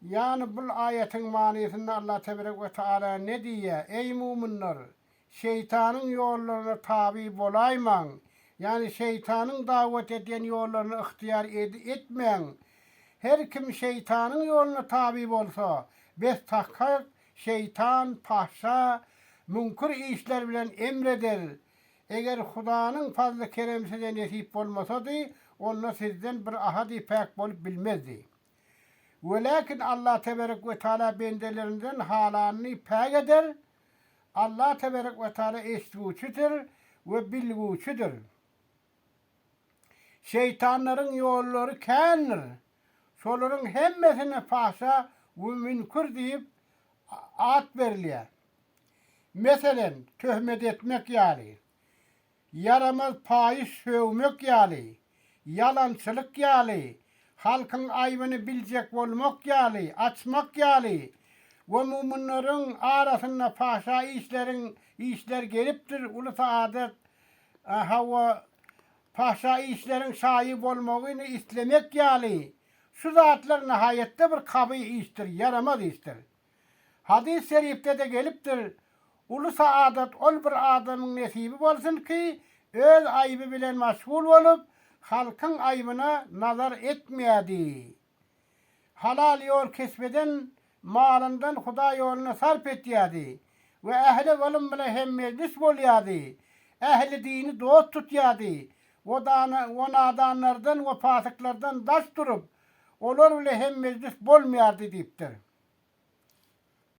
Ýagny bul aýatyň manysynda Allah teberek we taala ne diýýär, Eý muminler! Şeýtanyň ýollaryna taby bolaýmaň, ýagny şeýtanyň dawat edýän ýollaryny ygtyýar etmäň. Her kim şeýtanyň ýoluna taby bolsa, bes tahkyk şeýtan fahşa, müňkür işler bilen emr eder, Eger Hudanyň fazly-keremi size nesip bolmasady, onda sizden bir ahady päk bolup bilmezdi. Weläkin Allah teberek we taala bendelerinden halanyny päk eder. Allah teberek we taala eşitgiwçidir we bilgiwçidir. Şeýtanlaryň ýollary kändir. Şolaryň hemmesine fahşa we münkür diýip at berilýär. Meselem, töhmet etmek ýaly, ýaramaz paýyş sögmek ýaly, ýalançylyk ýaly, halkyň aýbyny biljek bolmak ýaly, açmak ýaly we mumunlaryň arasynda paşa işleriň işler gelipdir, uly saadat, hawa, paşa işleriň şaýy bolmagyny islemek ýaly şu zatlar nahaýatda bir kaby işdir, ýaramaz işdir. Hadys şeripde-de gelipdir, Uly saadat ol bir adamyň nesibi bolsun ki, öz aýby bilen maşgul bolup, halkyň aýbyna nazar etmeýädi. Halal ýol kesp eden malyndan Hudaý ýolunda sarp etýädi we ähli ylym bilen hemmejlis bolýardy, ähli dini dost tutýardy we nadanlardan we pasyklardan daş durup, Olar bile hem mejlis bolmaýardy diýipdir.